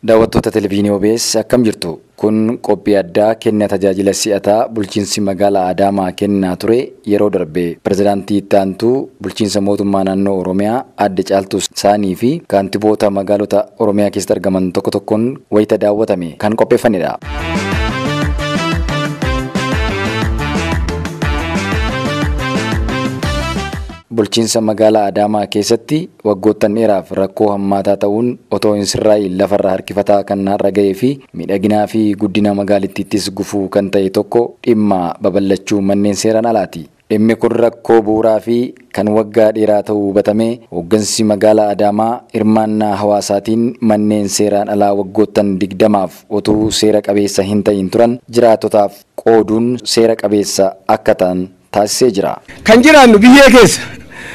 Daawwattoota Televizyinii OBS akkam jirtu? Kun qophii addaa kenna tajaajila si'ataa bulchiinsi magaalaa Adaamaa kennaa ture yeroo darbe pirezidaantii itti aantuu Bulchiinsa Mootummaa Naannoo Oromiyaa Aadde Caaltuu Saanii fi Kaantiboota Magaalota Oromiyaa keessatti argaman tokko tokkoon wayita daawwatame kan qopheeffamedha. Bulchiinsa Magaalaa Adaamaa keessatti waggoottan dheeraaf rakkoo hammaataa ta'uun otoo hin sirraa'iin lafarra harkifataa kan har'a ga'ee fi miidhaginaa fi guddina magaalittiittis gufuu kan ta'e tokko dhimma babal'achuu manneen seeraan alaati. Dhimmi kun rakkoo bu'uuraa fi kan waggaa dheeraa ta'uu hubatamee hooggansi magaalaa Adaamaa hirmaannaa hawaasaatiin manneen seeraan alaa waggoottan 20f utuu seera qabeessa hin ta'iin turan jiraattotaaf qooduun seera qabeessa akka ta'an taasisee jira. Kan jiraannu biyyee keessa.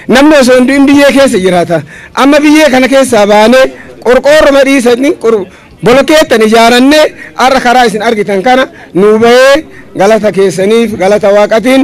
Namni osoo hin du'in biyyee keessa jiraata. Amma biyyee kana keessaa baanee qorqoorroma dhiisanii qorqoorroo. Bolokeettan ijaarannee har'a karaa isin argitan kana nuu bahee galata keessaniif galata Waaqatiin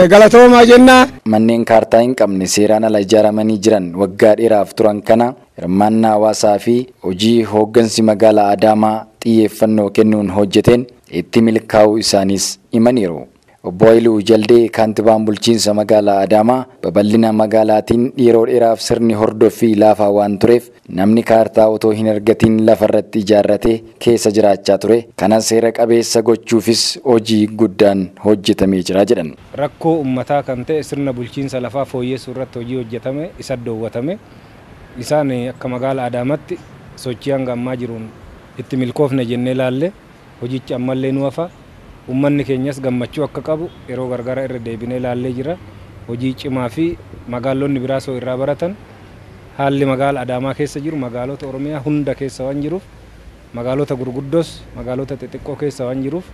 galatoomaa jenna. Manneen kaartaa hin qabne seeraan ala ijaaramanii jiran waggaa dheeraaf turan kana hirmaannaa hawaasaa fi hojii hooggansi magaalaa Adaamaa xiyyeeffannoo kennuun hojjeteen itti milkaa'uu isaaniis himaniiru. Obbo Hayiluu Jaldee Kaantibaan Bulchiinsa Magaalaa Adaamaa, babal'ina magaalaatiin yeroo dheeraaf sirni hordoffii laafaa waan tureef namni kaartaa otoo hin argatiin lafarratti ijaarratee keessa jiraachaa ture kana seera qabeessa gochuufis hojii guddaan hojjetamee jira jedhan. Rakkoo ummataa kan ta'e sirna bulchiinsa lafaa fooyyessuurratti hojii hojjetame isaddoowwatame. Isaan akka Magaala Adaamatti sochii hanga ammaa jiruun itti milkoofne jennee laalle. Hojichi ammallee nu hafa. Ummanni keenyas gammachuu akka qabu yeroo gargara irra deebinee laallee jirra. Hojii cimaa fi magaallonni biraas hoo irraa baratan haalli magaala Adaamaa keessa jiru magaalota Oromiyaa hunda keessa waan jiruuf magaalota gurguddoos magaalota xixiqqoo keessa waan jiruuf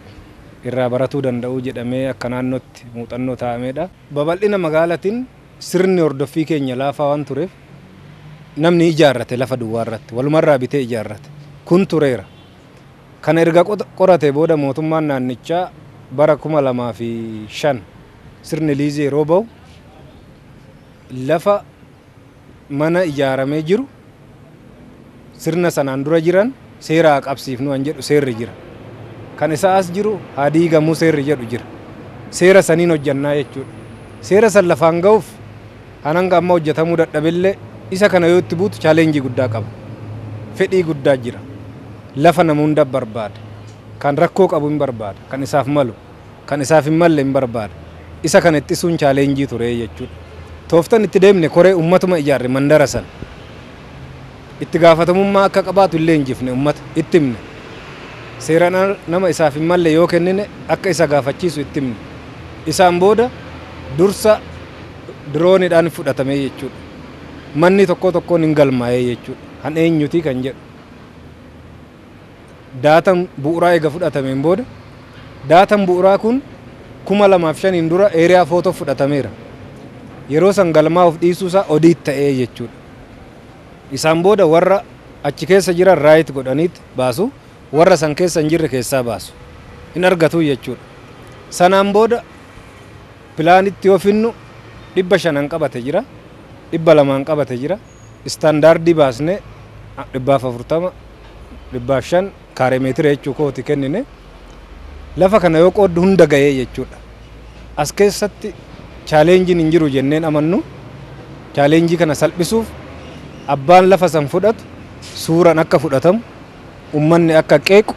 irraa baratuu danda'uu jedhamee akka naannootti muuxannoo taa'ameedha. Babal'ina magaalatin sirni hordoffii keenya laafaa waan tureef namni ijaarrate lafa duwwaa irratti walumarraa bitee ijaarrate. Kun tureera. Kana erga qoratee booda mootummaan naannichaa bara 2005 sirni liizii yeroo bahu lafa mana ijaaramee jiru sirna sanaan dura jiran seera haa qabsiifnu kan jedhu seerri jira. Kan isaa as jiru haa diigamu seerri jedhu jira. Seera saniin hojjannaa jechuudha. Seera san lafaan gahuuf Kan hanga ammaa hojjetamuu dadhabellee isa kana yoo itti buutu challenge guddaa qaba. Fedhii guddaa jira. Lafa nama hunda barbaada. Kan rakkoo qabu hin barbaada. Kan isaaf malu. Kan isaaf hin malle hin barbaada. Isa kana ittisuun challenge ture jechuudha. Tooftan itti deemne koree ummatuma ijaarre mandara sana. Itti gaafatamummaa akka qabaatu hin leenjifne, ummata. Itti himne. Seeran ala nama isaaf hin malle yoo kennine akka isa gaafachiisu itti himne. Isaan booda dursa diroonidhaan fudhatame jechuudha. Manni tokkoo tokkoon hin galmaa'e jechuudha. Kan eenyuti kan jedhu. Daatan bu'uraa eega fudhatameen booda daatan bu'uraa kun 2005n dura area photo fudhatameera. Yeroo san galmaa'uuf dhiisuu isaa audit ta'ee jechuudha. Isaan booda warra achi keessa jiran right godhaniit baasu, warra san keessa hin jirre keessaa baasu. Hin argatu jechuudha. Sanaan booda pilaanitti yoo finnu 500n qabate jira, 200n qabate jira, istaandaardii baasnee 400, 500, kaaree meetira jechuu kooti kennine. Lafa kana yoo qooddu hunda ga'ee jechuudha. As keessatti chaaleenjiin hin jiru jenneen amannu. Chaaleenjii kana salphisuuf abbaan lafa san fudhatu suuraan akka fudhatamu, ummanni akka qeequ,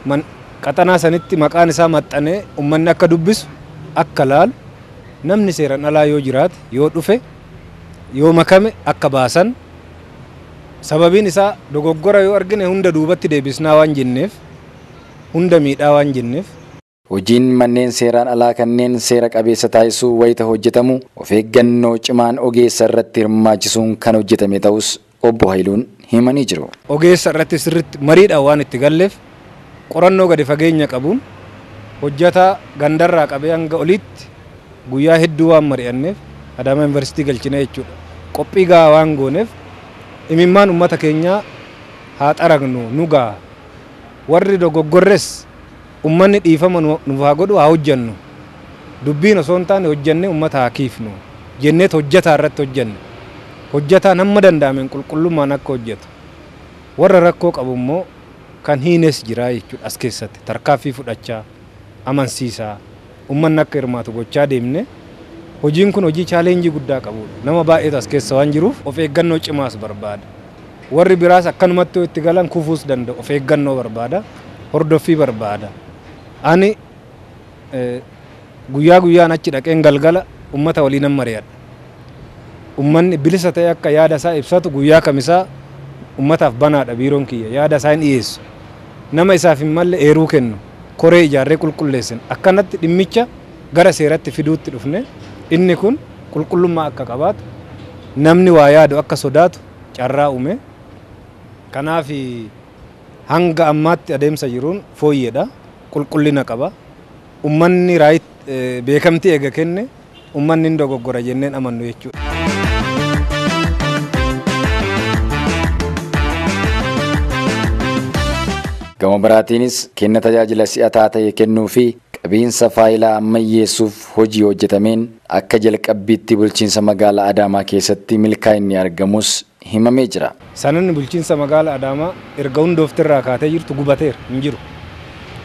man qaxanaa sanitti maqaan isaa maxxanee ummanni akka dubbisu, akka laalu, namni seeran alaa yoo jiraate, yoo dhufe, yoo makame akka baasan, Sababiin isaa dogoggora yoo argine hunda duubatti deebisnaa waan jenneef, hunda miidhaa waan jenneef. Hojiin manneen seeraan alaa kanneen seera qabeessa taasisuu wayita hojjetamu of eeggannoo cimaan ogeessa irratti hirmaachisuun kan hojjetame ta'uus Obbo Hayiluun himanii jiru. Ogeessa irratti sirriitti mariidhaan waan itti galleef qorannoo gadi fageenya qabuun hojjataa gandarraa qabee hanga oliitti guyyaa hedduu waan mari'anneef Adaamaa Yuunivarsiitii galchina jechuudha. Qophii gahaa waan gooneef imimmaan ummata keenyaa haa xaragnu nu gaha. Warri dogoggorres ummanni dhiifama nuuf haa godhu haa hojjannu. Dubbiin osoo hin taane hojjannee ummata haa kiifnu jenneet hojjataa irratti hojjanne. Hojjataan hamma danda'ameen qulqullummaan akka hojjatu. Warra rakkoo qabu immoo. Kan hiines jira jechuudha as keessatti tarkaaffii fudhachaa, amansiisaa, ummanni akka hirmaatu gochaa deemnee hojiin kun hojii challenge guddaa qabuudha. Nama baay'eetu as keessa waan jiruuf of eeggannoo cimaas barbaada. Warri biraas akkanumatti yoo itti galan kufuus danda'u. Of eeggannoo barbaada. Hordoffii barbaada. Ani. Guyyaa guyyaan achi dhaqeen galgala ummata waliinan mari'adha. Ummanni bilisa ta'ee akka yaada isaa ibsatu guyyaa Kamisaa ummataaf banaadha biiroon kiyya. Yaada isaa hin dhiyeessu. Nama isaaf hin malle eeruu kennu. Koree ijaarree qulqulleessina. Akkanatti dhimmicha gara seeratti fiduutti dhufne. Inni kun qulqullummaa akka qabaatu, namni waa yaadu akka sodaatu carraa uume. Kanaaf hanga ammaatti adeemsa jiruun fooyyeedha. qulqullina qaba. Ummanni right beekamtii eega kenne ummanni hin dogoggora jennee hin amannu jechuudha. Gama biraatiinis kenna tajaajila si'ataa ta'e kennuu fi qabiinsa faayilaa ammayyeessuuf hojii hojjetameen akka jalqabbiitti bulchiinsa magaalaa Adaamaa keessatti milkaa'inni argamus himamee jira. Sanadni bulchiinsa magaala Adaamaa erga hundoofte irraa kaatee jirtu gubateera, hin jiru.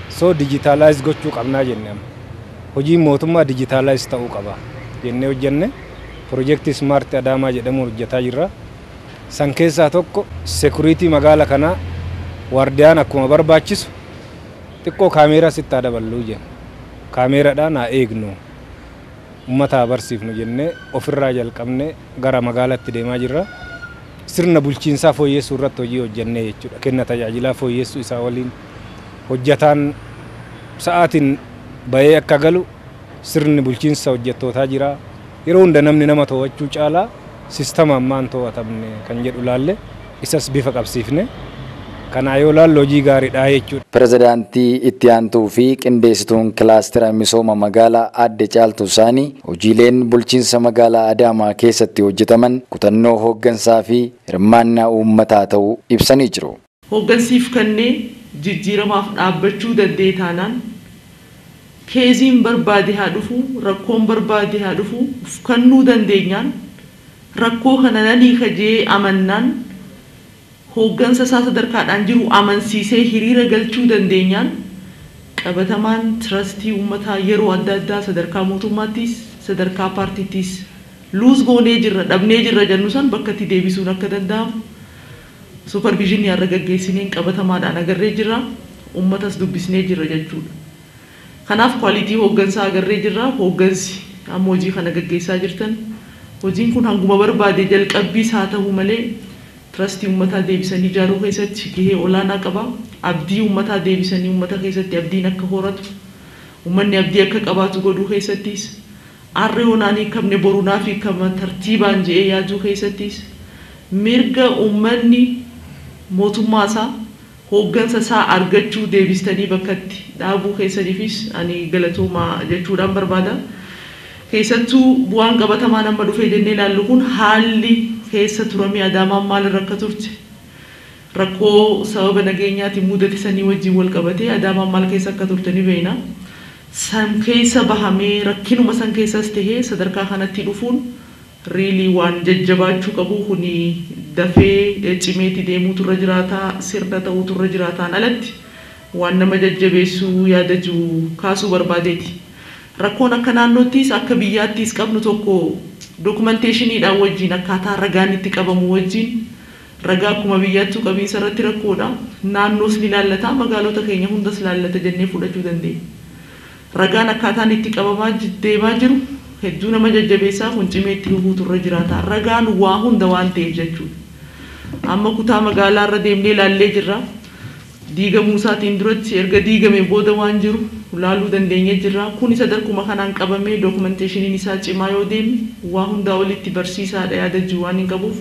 So digitalize gochuu qabnaa jenne amma. Hojiin mootummaa digitalize ta'uu qaba jennee hojjenne pirojektii Smart Adaamaa jedhamuun hojjetaa jirra. San keessaa tokko security magaala kanaa waardiyaan akkuma barbaachisu xiqqoo kaameeraa sitti haa daballu jenne. Kaameeradhaan haa eegnu. ummata haa barsiifnu jennee ofirraa jalqabnee gara magaalaatti deemaa jirra. Sirna bulchiinsaa fooyyessuu irratti hojii hojjennee jechuudha. Kenna tajaajilaa fooyyessuu isaa waliin hojjataan sa'aatiin ba'ee akka galu sirni bulchiinsa hojjattootaa jira. Yeroo hunda namni nama to'achuu caalaa. sistama ammaan too'atamne kan jedhu ilaalle isas bifa qabsiifne kanaa yoo ilaallu hojii gaaridha jechuudha. Pirezidaantii Itti Aantuu fi Qindeesituun Kilaastera Misooma Magaalaa Aadde Caaltuu Saanii, hojiileen Bulchiinsa Magaalaa Adaamaa keessatti hojjetaman kutannoo hooggansaa fi hirmaannaa uummataa ta'uu ibsanii jiru. Hooggansiif kannee jijjiiramaaf dhaabbachuu daddee taanaan keeziin barbaade haa dhufuu rakkoon barbaade haa dhufuu uf kannuu dandeenyaan rakkoo kana nan hiika je'ee amannaan hooggansa isaa sadarkaadhaan jiru amansiisee hiriira galchuu dandeenyaan qabatamaan tirastii ummataa yeroo adda addaa sadarkaa mootummaattiis sadarkaa paartiittiis luuz goonee jirra dhabnee jirra jannu san bakkatti deebisuun akka danda'amu Suuparviizhinii har'a gaggeessineen qabatamaadhaan agarree jirra, ummatas dubbisnee jirra jechuudha. Kanaaf quality hooggansaa agarree jirra, hooggansi amma hojii kana gaggeessaa jirtan hojiin kun hanguma barbaade jalqabbiis haa tahu malee trust ummataa deebisanii ijaaruu keessatti gahee olaanaa qaba. Abdii ummataa deebisanii ummata keessatti abdiin akka horatu, ummanni abdii akka qabaatu godhuu keessattis Arra yoo naan hiikamne boru naaf hiikama tartiibaan je'ee yaaduu keessattis mirga ummanni mootummaa isaa, hooggansa isaa argachuu deebistanii bakkatti dhaabuu keessaniifis ani galatoomaa jechuudhaan barbaada. Keessattuu bu'aan qabatamaan amma dhufee jennee ilaallu kun haalli keessa turamee Adaamaan maal irra akka turte, rakkoo sababa nageenyaatiin mudate sanii wajjiin wal qabatee Adaamaan maal keessa akka turte ni beeyna. San keessa bahamee rakkinuma san keessas tahee sadarkaa kanatti dhufuun really waan jajjabaachuu qabuu kuni dafee cimeeti deemuutu irra jiraata sirna tahuutu irra jiraataan alatti waan nama jajjabeessu yaada jiru kaasuu barbaadeeti. Rakkoon akka naannoottiis akka biyyaattiis qabnu tokko documentation dhaan wajjiin akkaataa ragaan itti qabamu wajjiin Ragaa akkuma biyyaattuu qabiinsa irratti rakkoodha. Naannoos ni laallata, magaalota keenya hundas laallata jennee fudhachuu dandeenya. Ragaan akkaataan itti qabamaa deemaa jiru hedduu nama jajjabeessa, kun cimee itti fufuutu irra jiraata. Ragaan waa hunda waan ta'eef jechuudha. Amma kutaa magaalaa irra deemnee laallee jirra. Diigamuu isaatiin duratti, erga diigamee booda waan jiru laaluu dandeenyee jirra. Kuni sadarkuma kanaan qabamee dookumanteeshiniin isaa cimaa yoo deeme waa hundaa olitti barsiisaadha yaada jiru waanin qabuuf.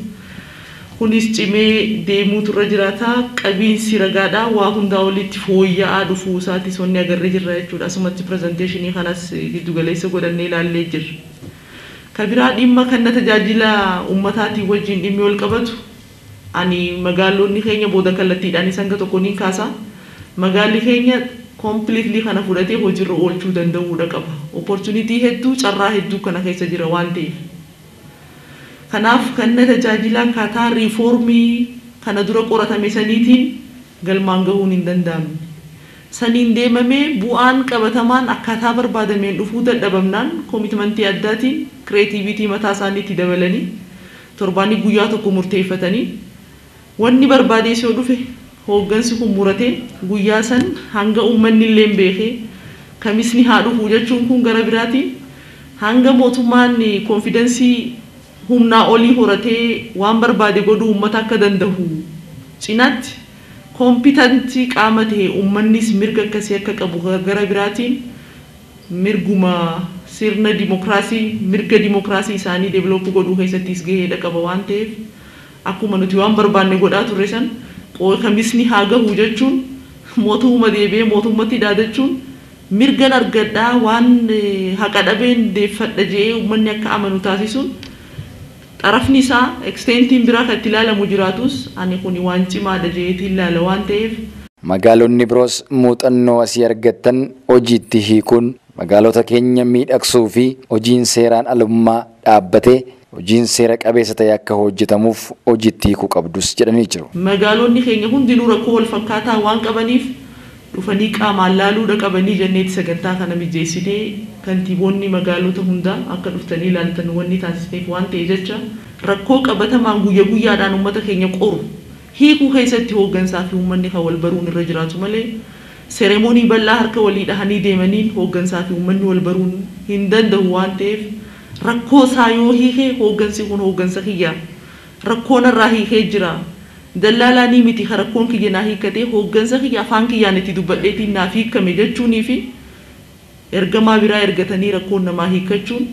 Kunis cimee deemuutu irra jiraata. Qabiinsi ragaadhaa waa hundaa oliitti fooyya'aa dhufuu isaatiis wanni agarre jirra jechuudha. Asumatti presentation kanas giddu galeessa godhannee ilaallee jirra. Ka biraa dhimma kanna tajaajila ummataatiin wajjiin dhimmi wal qabatu ani magaallonni keenya booda kallattiidhaanis hanga tokko niin kaasa. Magaalli keenya completely kana fudhatee hojirra oolchuu danda'uudha qaba. Opportunity hedduu, carraa hedduu kana keessa jira waan ta'eef. Kanaaf kanna tajaajilaa akkaataa riifoormii kana dura qoratame saniitiin galmaan gahuun hin danda'amne. Saniin deemamee bu'aan qabatamaan akkaataa barbaadameen dhufuu dadhabamnaan komitmantii addaatiin kireetiiviitii mataa isaanii itti dabalanii torbaaniif guyyaa tokko murteeffatanii, Wanni barbaadees yoo dhufe hooggansi kun muratee guyyaa san hanga ummannilleen beekee Kamisni haa dhufu jechuun kun gara biraatiin hanga mootummaan konfidansii humnaa olii horatee waan barbaade godhuu ummata akka dandahu cinaatti kompitantii qaama tahe ummannis mirga akkasii akka qabu gara biraatiin mirguma sirna dimokraasii mirga dimokraasii isaanii develop godhuu keessattiis gaheedha qaba waan taheef Akkuma nuti waan barbaanne godhaa turre san qooy kamisni haa gahu jechuun mootuuma deebi'ee mootummatti dhaadachuun mirgan argadha waan haqa dhabeen deeffadha je'ee ummanni akka amanu taasisuun xarafni isaa, extent, n biraa ka itti laalamu jiraatuus ani kuni waan cimaadha je'eetiin laala waan ta'eef. Magaalonni biroos muuxannoo asii argattan hojiitti hiikuun Magaalota keenya miidhagsuu fi hojiin seeraan alummaa dhaabbatee hojiin seera qabeessa ta'e akka hojjetamuuf hojiitti hiikuu qabdus jedhanii jiru. Magaalonni keenya hundinuu rakkoo walfakkaataa waan qabaniif dhufanii qaamaan laaluudha qabanii jenneeti sagantaa kana mijeessinee kantiiboonni magaalota hundaa akka dhuftanii laaltan wanni taasisneef waan ta'e jecha rakkoo qabatamaan guyya guyyaadhaan ummata keenya qoru hiikuu keessatti hooggansaa fi ummanni kan walbaruun irra jiraatu malee Seremonii bal'aa harka walii dhahanii deemaniin hooggansaa fi uummanni wal baruun hin dandahu waan ta'eef rakkoo isaa yoo hiike hooggansi kun hooggansa kiyya, rakkoo narraa hiikee jira, dallaalaa ni miti ka rakkoon kiyya naa hiikkatee hooggansa kiyya afaan kiyyaan itti dubbadheetiin naaf hiikkame jechuunii fi ergamaa biraa ergatanii rakkoon namaa hiikkachuun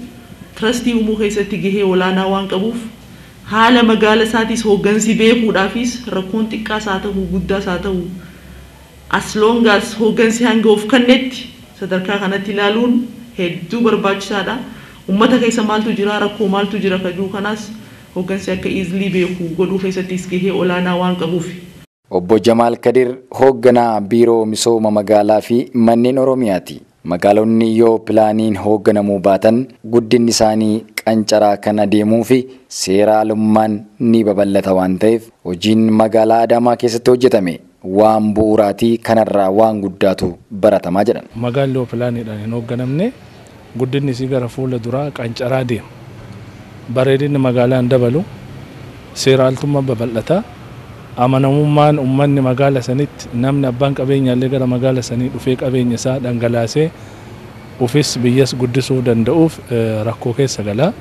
trastii uumuu keessatti gahee olaanaa waan qabuuf haala magaala isaatiis hooggansi beekuudhaafiis rakkoon xiqqaas haa tahu guddaas haa tahu As long as hooggansi hanga of kannetti sadarkaa kanatti ilaaluun hedduu barbaachisaadha. Ummata keessa maaltu jira, rakkoo maaltu jira ka jiru kanaas hooggansi akka easily beeku godhuu keessattis gahee olaanaa waan qabuufi. Obbo Jamaal Kadir hoogganaa Biiroo Misooma Magaalaa fi Manneen Oromiyaati. Magaalonni yoo pilaaniin hoogganamuu baatan guddinni isaanii qancaraa kan adeemuu fi seera alummaan ni babal'ata waan ta'eef hojiin magaalaa Adaamaa keessatti hojjetame waan bu'uuraati kanarraa waan guddaatu baratama jedhan. Magaalli yoo pilaaniidhaan hin hoogganamne guddinni isii gara fuula duraa qancaraa deema. Bareedinni magaalaa hin dabalu, seera altummaan babal'ata, amanamummaan ummanni magaala sanitti namni abbaan qabeenyaallee gara magaala sanii dhufee qabeenya isaa dhangalaasee ufis biyyas guddisuuf danda'uuf rakkoo keessa gala.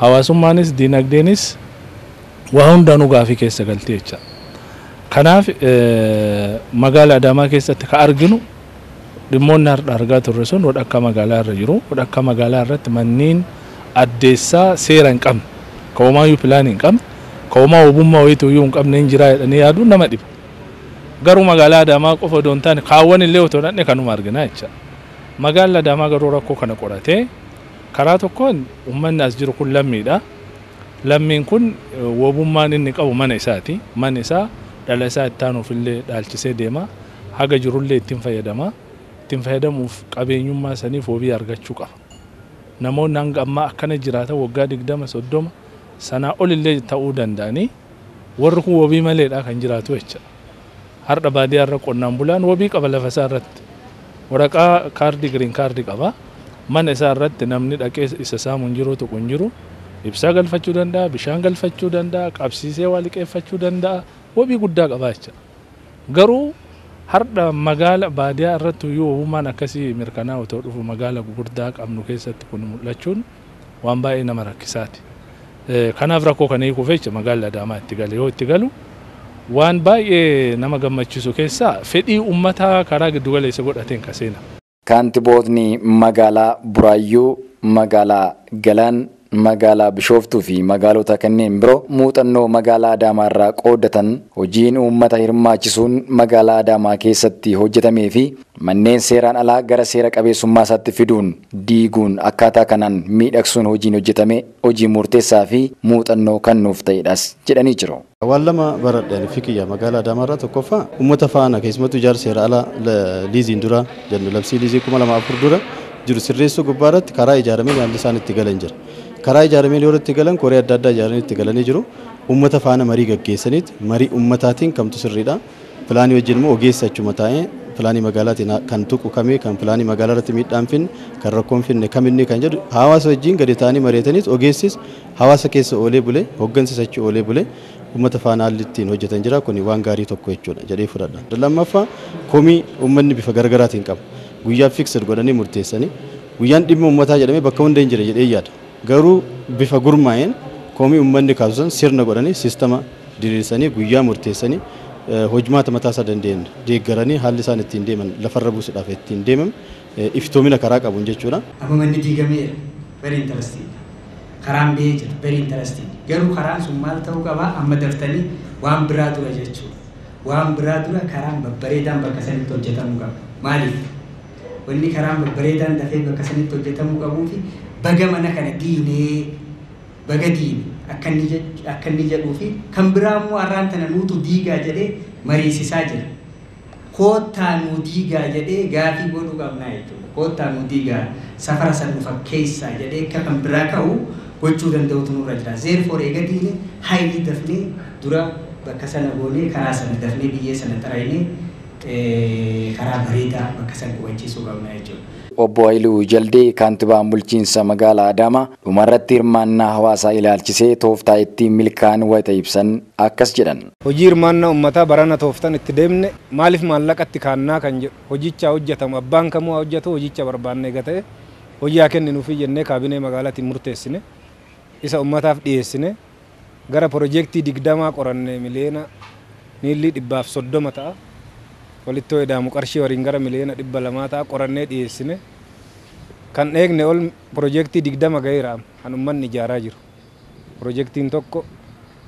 Hawaasummaanis diinagdeenis Waa hundaanuu gaafii keessa galti jecha. Kanaaf magaala Adaamaa keessatti ka arginu dhimmoonni hardha argaa turre sun wadhakkaa magaalaa irra jiru. Wadhakkaa magaalaa irratti manniin addeessaa seera hin qabne, ka womaayyuu pilaanii hin qabne, ka womaa wobummaa woyituuyyuu hin qabneen jiraa jedhanii yaaduun nama dhiba. Garuu magaalaa Adaamaa qofa odoo hin taane kaawwan illee otoo dhaqne kanuma argina jecha. Magaalli Adaamaa garuu rakkoo kana qoratee karaa tokkoon ummanni as jiru kun lammiidha. Lammiin kun wobummaan inni qabu mana isaati. Mana isaa dhala isaa itti aanuuf illee dhaalchisee deema. Haga jiru illee itti hin fayyadama. Itti hin fayyadamuuf qabeenyummaa saniif wobii argachuu qaba. Namoonni hanga ammaa akkana jiraatan woggaa 20, 30, sanaa ol illee ta'uu danda'anii warri kun wobii maleedha kan jiraatu jecha. Hardha baadiyaa irra qonnaan bulaan wabii qaba lafa isaa irratti. Waraqaa kaardii green card qaba. Mana isaa irratti namni dhaqee isa saamu hin jiruu tuqu hin jiru. Ibsaa galfachuu danda'a, bishaan galfachuu danda'a, qabsiisee waa liqeeffachuu danda'a. Wabii guddaa qaba jecha. Garuu hardha magaala baadiyaa irratti iyyuu wabummaan akkasii mirkanaa'u otoo dhufu magaala gugurdaa qabnu keessatti kun mul'achuun waan baay'ee nama rakkisaati. Kanaaf rakkoo kana hiikuuf jecha magaalli Adaamaa itti gale yoo itti galu waan baay'ee nama gammachiisu keessaa fedhii ummataa karaa giddu galeessa godhateen ka seena. Kaantibootni magaalaa Buraayyuu, magaalaa Galaan, magaalaa Bishooftuu fi magaalota kanneen biroo muuxannoo magaalaa Adaamaa irraa qooddatan hojiin uummata hirmaachisuun magaalaa Adaamaa keessatti hojjetamee fi manneen seeraan alaa gara seera qabeessummaasaatti fiduun diiguun akkaataa kanaan miidhagsuun hojiin hojjetame hojii muurteessaa fi muuxannoo kan nuuf ta'edhas jedhanii jiru. Waan lama baradhe ani fi kiyya magaala Adaamaa irraa tokkoffaa ummata faana keessumattuu ijaarsa seera alaa liiziin dura jennu labsii liizii 2004 dura jiru sirreessuu gubbaa irratti karaa ijaarameen haalli isaan itti galan jira. Karaa ijaarameen yeroo itti galan koree adda addaa ijaaranii itti galanii jiru. Ummata faana marii gaggeessaniit marii ummataatiin kamtu sirriidha. Pilaanii wajjin immoo ogeessi achuma taa'ee pilaanii magaalaatiin kan tuqu kami, kan pilaanii magaalaa irratti miidhaa hin finne, kan rakkoo hin finne kam inni kan jedhu hawaasa wajjin gadi taa'anii mari'ataniis ogeessis hawaasa keessa oolee bulee, hoggansis achi oolee bulee uummata faana haalli ittiin hojjetan jira. Kuni waan gaarii tokko jechuudha jedhee fudhadha. Lammaffaa komii uummanni bifa garaagaraatiin qabu guyyaa fixed godhanii murteessanii guyyaan dhimma uummataa jedhamee bakka hunda hin jira jedheen yaada. Garuu bifa gurmaa'een komii ummanni kaasu san sirna godhanii, sistama diriirsanii, guyyaa murteessanii, hojmaata mataa isaa danda'een deeggaranii haalli isaan ittiin deeman lafarra buusuudhaaf ittiin deemam iftoomina karaa qabuun jechuudha. Amma manni diigameera, very interesting dha. Karaan ba'ee jira, very interesting. Garuu karaan sun maal ta'uu qaba? Amma daftanii waan biraa dura jechuudha. Waan biraa dura karaan babbareedaan bakka sanitti hojjetamuu qaba. Maaliif? Wanni karaan babbareedaan dafee bakka sanitti hojjatamuu qabuufi baga mana kana diinee baga diine akka inni jech- akka inni jedhuufi kan biraa immoo arraan tana nuutu diigaa jedhee mariisisaa jira. Koottaa nuu diigaa jedhee gaafii godhuu qabnaa jechuudha. Koottaa nuu diigaa safara san nu fakkeessaa jedhee akka kan biraa ka'u gochuu danda'utu nurra jira. Therefore eega diine highly dafnee dura bakka sana goonee karaa sana dafnee biyyee sana xaraynee karaa bareedaa bakka san qubachiisuu qabna jechuudha. Obbo Hayiluu Jaldee, Kaantibaan Bulchiinsa Magaalaa Adaamaa, dhumarratti hirmaannaa hawaasaa ilaalchisee tooftaa ittiin milkaa'an wayita ibsan akkas jedhan. Hojii hirmaannaa ummataa barana tooftan itti deemne maaliif maallaqatti kaannaa kan jedhu hojicha haa hojjatamu abbaan kamuu haa hojjatuu hojicha barbaanna eega ta'e hojii haa kenninuufii jennee kaabinee magaalatiin murteessine isa ummataaf dhiyeessinee Gara Projeektii 20 qoranne miliyoona miillii dhibbaaf 30 ta'a walitti yoo ida'amu qarshii waliin gara miliyoona 200 ta'a qorannee dhiyeessine. Kan eegne ol projeektii 20 gaheera amma kan ummanni ijaaraa jiru. Projeektiin tokko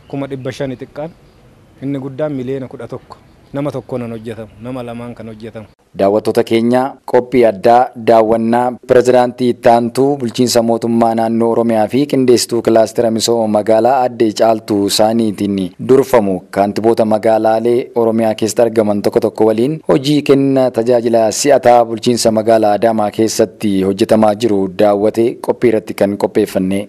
kuma 500 xiqqaan inni guddaan miliyoona 11 nama tokkoonan hojjatamu nama lamaan kan hojjatamu. Daawwattoota keenya, qophii addaa daawwannaa Pirezidaantii Itti Aantuu Bulchiinsa Mootummaa Naannoo Oromiyaa fi Qindeessituu Kilaastera Misooma Magaalaa Aadde Caaltuu Saaniitiin durfamu Kaantiboota Magaalaalee Oromiyaa keessatti argaman tokko tokko waliin hojii kenna tajaajila si'ataa Bulchiinsa Magaalaa Adaamaa keessatti hojjetamaa jiru daawwate qophii irratti kan qopheeffanne.